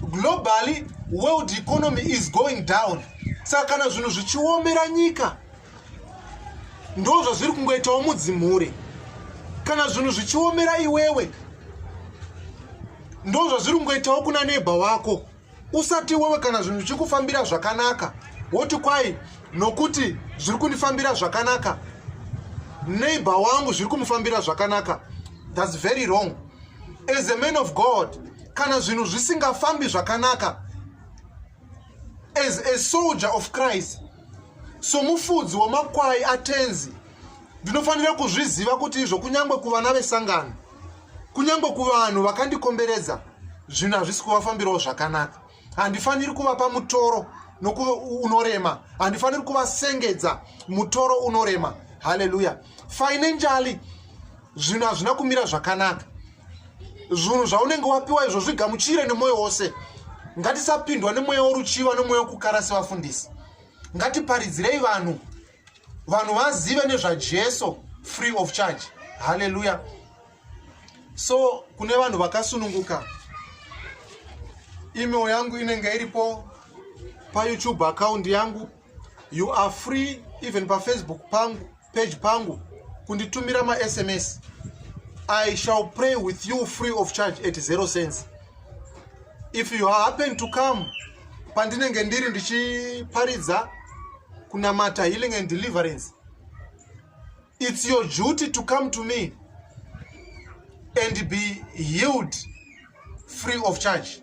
globally world economy is going down saka kana zvinhu zvichiomera nyika ndo zvazviri kungoitawo mudzimhure kana zvinhu zvichiomera iwewe ndo zvazviri kungoitawo kuna neba wako usati iwewe kana zvinhu zvichikufambira zvakanaka woti kwai nokuti zviri kundifambira zvakanaka neighbor wangu zviri kumufambira zvakanaka thats very wrong as a man of god kana zvinhu zvisingafambi zvakanaka as a soldier of christ somufudzi wemakwai atenzi ndinofanira kuzviziva kuti izvo kunyange kuvana vesangano kunyange kuvanhu vakandikomberedza zvinhu hazvisi kuvafambirawo zvakanaka handifaniri kuvapa mutoro unorema handifaniri kuvasengedza mutoro unorema haleluya financially zvinhu hazvina kumira zvakanaka zvinhu zvaunenge wapiwa izvo zvigamuchire nemwoyo wose ngatisapindwa nemweya woruchiva nemweya wokukara sevafundisi ngatiparidzirei vanhu vanhu vazive nezvajesu free of charge halleluya so kune vanhu vakasununguka email yangu inenge iripo payoutube account yangu you are free even pafacebook pangu page pangu kunditumira masms i shall pray with you free of charge at zero cents if you happen to come pandinenge ndiri ndichiparidza kunamata healing and deliverance it's your duty to come to me and be healed free of charge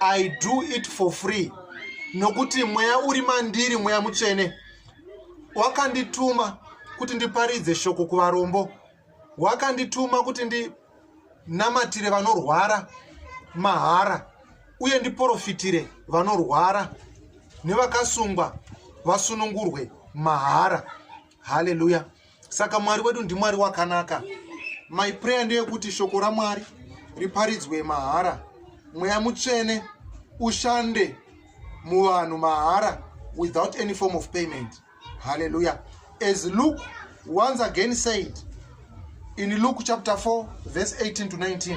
i do it for free nokuti mweya uri mandiri mweya mutsvene wakandituma kuti ndiparidze shoko kuvarombo wakandituma kuti ndinamatire vanorwara mahara uye ndiprofitire vanorwara nevakasungwa vasunungurwe mahara haleluya saka mwari wedu ndimwari wakanaka my prayer ndeyekuti shoko ramwari riparidzwe mahara mweya mutsvene ushande muvanhu mahara without any form of payment halleluya as luke once again said in luke chapter 4 verse 18 to 19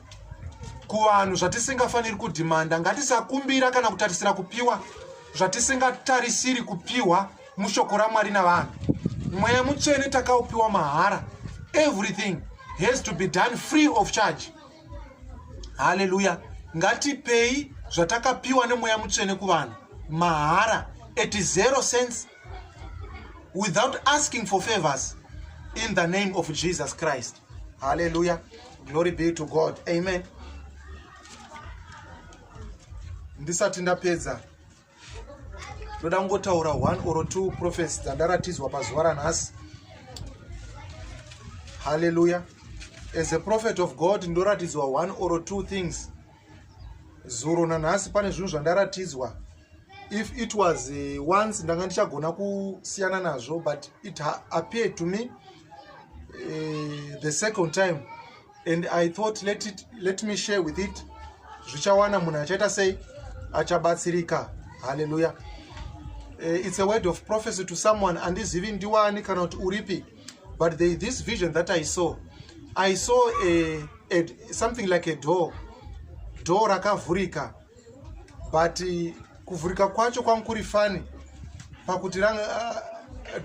kuvanhu zvatisingafaniri kudhimanda ngatisakumbira kana kutarisira kupiwa zvatisingatarisiri kupiwa mushoko ramwari navanhu mweya mutsvene takaupiwa mahara everything has to be done free of charge haleluya ngatipei zvatakapiwa nemweya mutsvene kuvanhu mahara at zero sense without asking for favors in the name of jesus christ hallelujah glory be to god amen ndisati ndapedza ndoda kungotaura one or two prophets dzandaratidzwa pazuva ranhasi hallelujah as a prophet of god ndoratidzwa one or two things zuro nanhasi pane zvinhu zvandaratidzwa if it was eh, once ndanga ndichagona kusiyana nazvo but it appeared to me uh, the second time and i thought let, it, let me share with it zvichawana munhu achaita sei achabatsirika halleluya uh, eh, it's a word of prophecy to someone andizivi ndiwani kana kuti uripi but the, this vision that i saw i saw a, a, something like a door door rakavhurika but uh, kuvhurika kwacho kwangu kuri fani pakuti uh,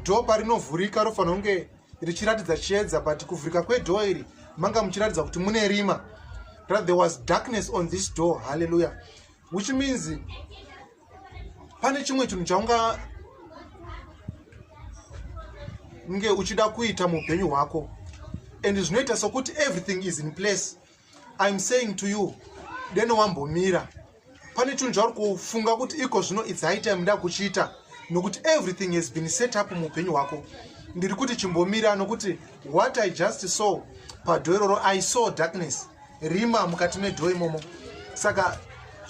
door parinovhurika rofanira kunge richiratidza chiedza but kuvhurika kwedoo iri manga muchiratidza kuti mune rima that there was darkness on this door halleluya which means pane chimwe chinhu chaunga nge uchida kuita muupenyu hwako and zvinoita sokuti everything is in place iam saying to you deno wambomira pane chinhu chauri kufunga kuti iko zvino its high time nda kuchiita nokuti everything has been set up muupenyu hwako ndiri kuti chimbomira nokuti what i just saw padho iroro i saw darkness rima mukati medho imomo saka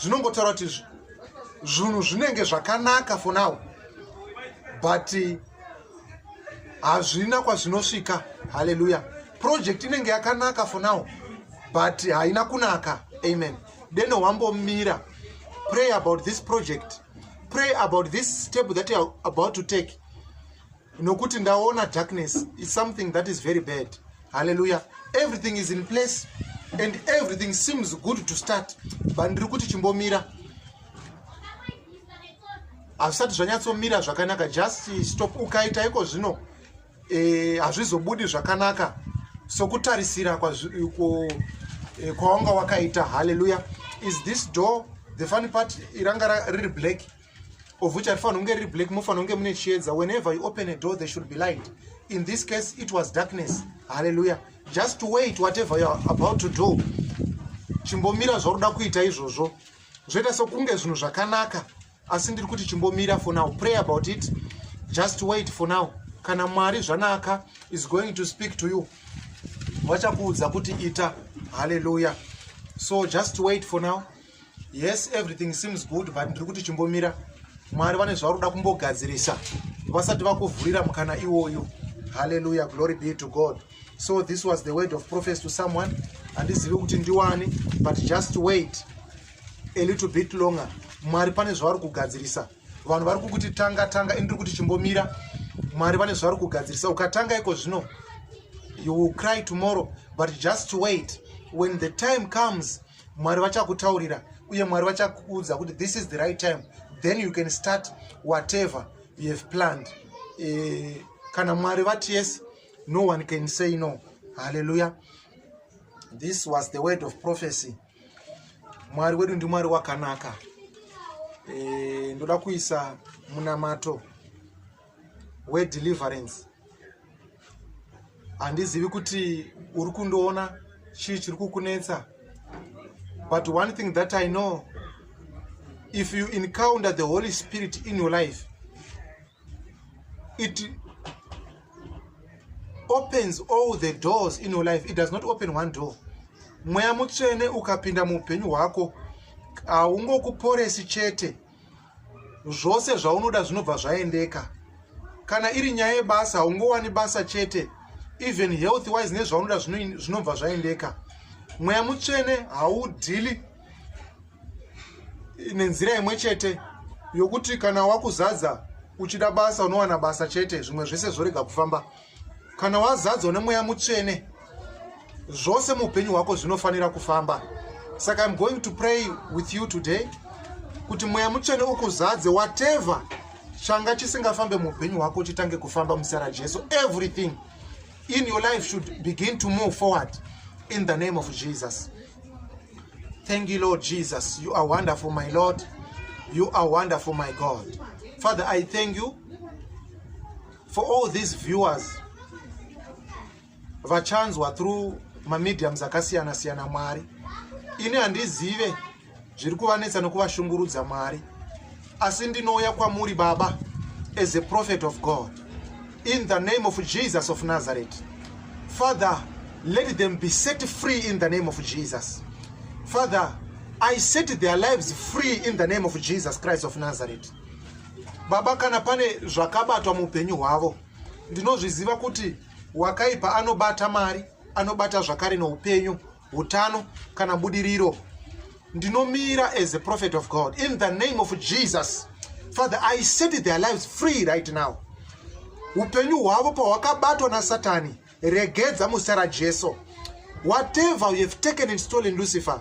zvinongotaura kuti zvinhu zvinenge zvakanaka for now but eh, hazvina kwazvinosvika haleluya project inenge yakanaka for now but haina kunaka amen deno wambomira pray about this project pray about this step that youare about to take nokuti ndaona darkness is something that is very bad halleluya everything is in place and everything seems good to start but ndiri kuti chimbomira hazvisati zvanyatsomira zvakanaka just stop ukaita iko zvino eh, hazvizobudi zvakanaka sokutarisira eh, kwawanga wakaita halleluya is this door the funny part iranga riri black of which arifanira kunge riri black mofanira kunge mune chiedza whenever you open a door there should be light in this case it was darkness halleluya just wait whatever youare about to do chimbomira zvauri da kuita izvozvo zvoita sokunge zvinhu zvakanaka asi ndiri kuti chimbomira for now pray about it just wait for now kana mwari zvanaka is going to speak to you vachakuudza kuti ita halleluya so just wait for now yes everything seems good but ndiri kuti chimbomira mwari vane zvavari kuda kumbogadzirisa vasati vakuvhurira mukana iwoyo halleluya glory be to god so this was the word of prophes to someone handizivi kuti ndiwani but just wait a little bit longer mwari pane zvavari kugadzirisa vanhu vari kukuti tanga tanga ini ndiri kuti chimbomira mwari vane zvavari kugadzirisa ukatanga iko zvino you will cry tomorrow but just wait when the time comes mwari vachakutaurira uye mwari vachakuudza kuti this is the right time then you can start whatever you have planned eh, kana mwari vati yes no one can say no halleluya this was the word of prophecy mwari wedu ndimwari wakanaka eh, ndoda kuisa munamato wedeliverance handizivi kuti uri kundoona chii chiri kukunetsa but one thing that i know if you encounter the holy spirit in your life it opens all the doors in your life it does not open one door mweya mutsvene ukapinda muupenyu hwako haungokuporesi chete zvose zvaunoda zvinobva zvaendeka kana iri nyaya yebasa haungowani basa chete even health wise nezvaunoda zvinobva zvaendeka mweya mutsvene haudhili nenzira imwe chete yokuti kana wakuzadza uchida basa unowana basa chete zvimwe zvese zvorega kufamba kana wazadzwa nemweya mutsvene zvose muupenyu hwako zvinofanira kufamba saka im going to pray with you today kuti mweya mutsvene ukuzadze whatever changa chisingafambe muupenyu hwako chitange kufamba muzita rajesu everything in your life should begin to move forward in the name of jesus thank you lord jesus you are wonderful my lord you are wonderful my god father i thank you for all these viewers vachanzwa through mamediums akasiyana siyana mwari ini handizive zviri kuvanetsa nekuvashungurudza mwari asi ndinouya kwamuri baba as a prophet of god in the name of jesus of nazareth father let them be set free in the name of jesus father i set their lives free in the name of jesus christ of nazareth baba kana pane zvakabatwa muupenyu hwavo ndinozviziva kuti wakaipa anobata mari anobata zvakare noupenyu utano kana budiriro ndinomira as a prophet of god in the name of jesus father i set their lives free right now upenyu hwavo pahwakabatwa nasatani regedza muzita rajesu whatever you have taken and stolen lucifer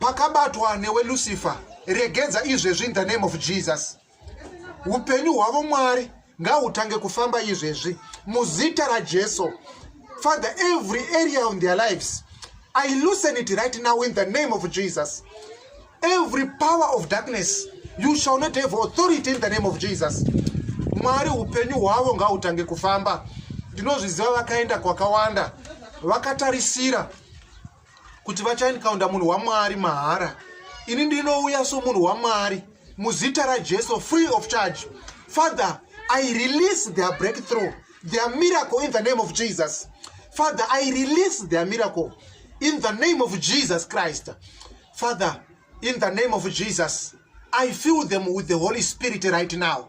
pakabatwa newe lucifer regedza izvezvi in the name of jesus upenyu hwavo mwari ngahutange kufamba izvezvi muzita rajesu father every area on their lives i loosen it right now in the name of jesus every power of darkness you shall not have authority in the name of jesus mwari upenyu hwavo ngahutange kufamba ndinozviziva vakaenda kwakawanda vakatarisira kuti vachaencounta munhu wamwari mahara ini ndinouya somunhu wamwari muzita rajesu free of charge father i release their breakthrough their miracle in the name of jesus father i release their miracle in the name of jesus christ father in the name of jesus i fill them with the holy spirit right now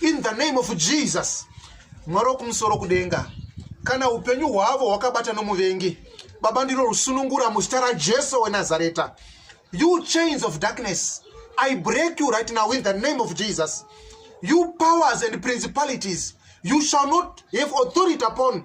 in the name of jesus mwari wokumusoro kudenga kana upenyu hwavo hwakabata nomuvengi baba ndiro rusunungura muzita rajesu wenazareta you chains of darkness i break you right now in the name of jesus you powers and principalities you shall not have authority upon